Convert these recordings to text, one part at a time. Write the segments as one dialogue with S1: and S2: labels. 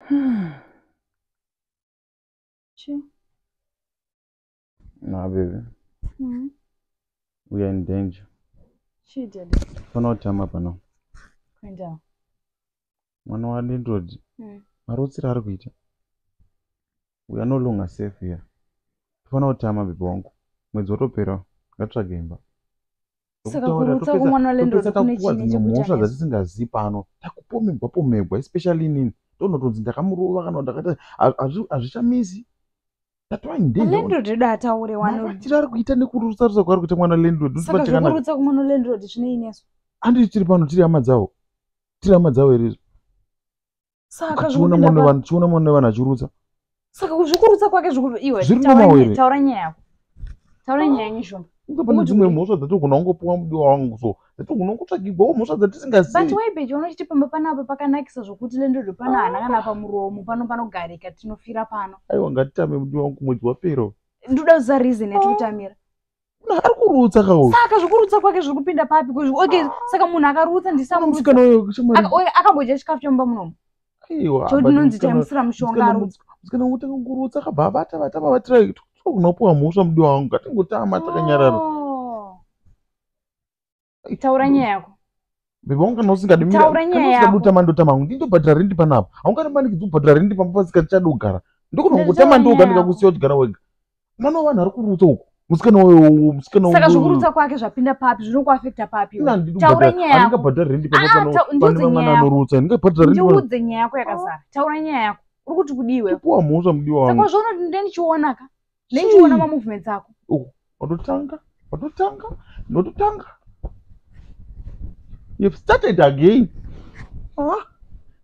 S1: Hmm. Chii?
S2: Nah, baby. Mm. We are in danger. Chii,
S1: daddy? Fana utama pano.
S2: Kuendawo. Mwana wadendodi. Mm. Marutsiro ari kuita. We are no longer safe here. Fana utama baby wangu. Mwedzi watopera. Ngatsvage imba. saka
S1: kurutsa kumwana walendlord kune chine chekutamhosva dzatisingazivi pano
S2: takupomegwa pomegwa especially inini tonotonzi ndakamurova kana ndakaita hazvichamisi
S1: landlord edu ataure wanovatira ari kuita
S2: nekurutsa rutsa kwaari kuita mwana landlord saka zvekurutsa kumwana
S1: landlord zvine inesu anditi tiri pano
S2: tiri hama dzavo tiri hama dzavo here izvo
S1: saka chiona mwana vanhu
S2: chiona mwana vanhu achirutsa saka kuzvikurutsa
S1: kwake zvikuve iwe zviri normal here taura nyaya yako taura nyaya yenyu shoma kunge pane dzimwe mhosva
S2: dzatogona kungopiwa mudiwa wangu so dzatogona kutsvagigwawo mhosva dzatisingazivi but waibeje unochiti
S1: pamba panapa pakanakisa zvokuti lendodo pano hana kana pamuromo pano panogarika tinofira pano aiwa ngatitambe mudiwa
S2: wangu mwedzi wapera ndoda kuziva reason
S1: yatikutamira ari
S2: kurutsa ka uyu saka zvekurutsa kwake zviri
S1: kupinda papi okay saka munhu akarutsa ndisamusikana uyo akambodya chikafu chomumba munomu chodinonzi
S2: taimusira
S1: mushonga arutswa musikana wotanga kurutsa
S2: kabva abata bata babatira kunopuwa mhosva mudiwa wangu ngatingotama takanyarara oh.
S1: taura nyaya yako bebe waungana
S2: usingadi taura nyaya yako ndotama
S1: ndotama hangu ndindobhadhara
S2: rendi panapa haungana maniki dzobhadhara rendi pamba pasikati chadi kugara ndokona kungotama ndoga ndikakusiya uchigara wega mwana wevanhu ari kurutsa uko musikana uyo musikana saka zvokurutsa
S1: kwake zvapinda papi zvinokuafekta papi taura nyaya yako bhadhara rendi pamba ah,
S2: pane vamwana anorutsa ndingabhadhara rendi ndiudze nyaya yako yakazara
S1: taura nyaya yako uri kuti kudiwe puwa mhosva mudiwa wangu
S2: saka zvaunoti ndindichiona
S1: ka neichiona ma movements ako oh, watotanga
S2: watotanga ndototanga you've started again ah,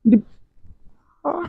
S2: ndi, ah.